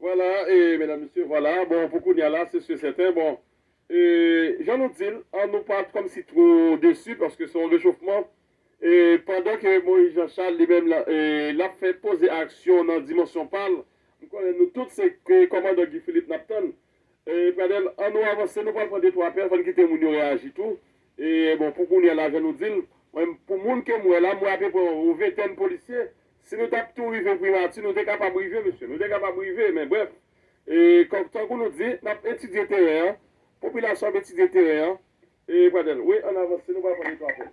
Vwala e medam mesye vwala bon pou kounya la se si e sèten bon e jan nou di l an nou pa kòmsi two desi paske se yon rechofman e pandan ke Moyiz Janchal li menm e l ap fè poze aksyon nan dimansyon pa l m konnen nou tout se kòmandan Guy Philippe n ap tann Ee Pradel an nou avanse nou pral pran de twa apèl fò n kite moun yo reyaji tou ee bon pou kounyè la jan nou di l mwen m pou moun ke m wè la m wè apeprè yon ventèn polisye si nou tap tou rive primati nou te kapab rive mesye nou te kapab rive men brèf ee kòk tankou nou di n ap etidye teren an popilasyon ap etidye teren an ee Pradel wi an nou avanse nou pral pran de twa apèl.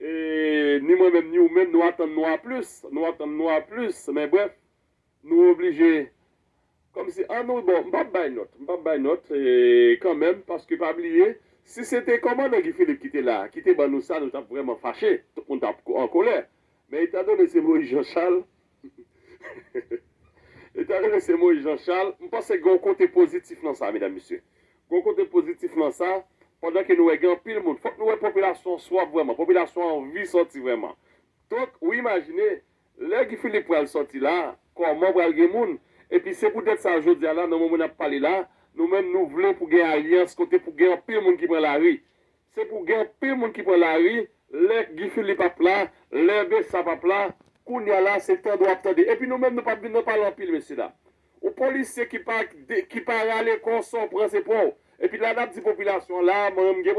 E ni mwen menm ni ou menm nou atann nou a plis, nou atann nou a plis, men brèf, nou oblije kòm si an nou bon, m pap bay nòt, m pap bay nòt kan menm paske pa bliye si se te kòmandan Guy Philippe ki te la ki te ban nou sa nou t ap vrèman fache, tout moun t ap an kolè, men etan done se Moïse Jean Charles Li ta rele se Moïse Jean Charles. M panse gen yon kote pozitif nan sa medam mesye. Gen yon kote pozitif nan sa, pandan ke nou wè gen anpil moun. Fòk nou wè popilasyon an swaf vrèman, popilasyon an anvi sòti vrèman. Donk, ou imajine, lè Guy Philippe pral sòti la, kòman pral gen moun. Epi se poutèt sa jodi a la, nan moman n ap pale la, nou menm nou vle pou gen alyans kote pou gen anpil moun ki pran lari. Se pou gen anpil moun ki pran lari lè Guy Philippe ap la, lè Bessap ap la, kounya la se tande w ap tande. Epi nou menm nou pap vin nan pale anpil mesye dam. Yon polisye ki pa ki pa rale kò sa w pran se pon w. Epi la n ap di popilasyon an la a mwen menm m gen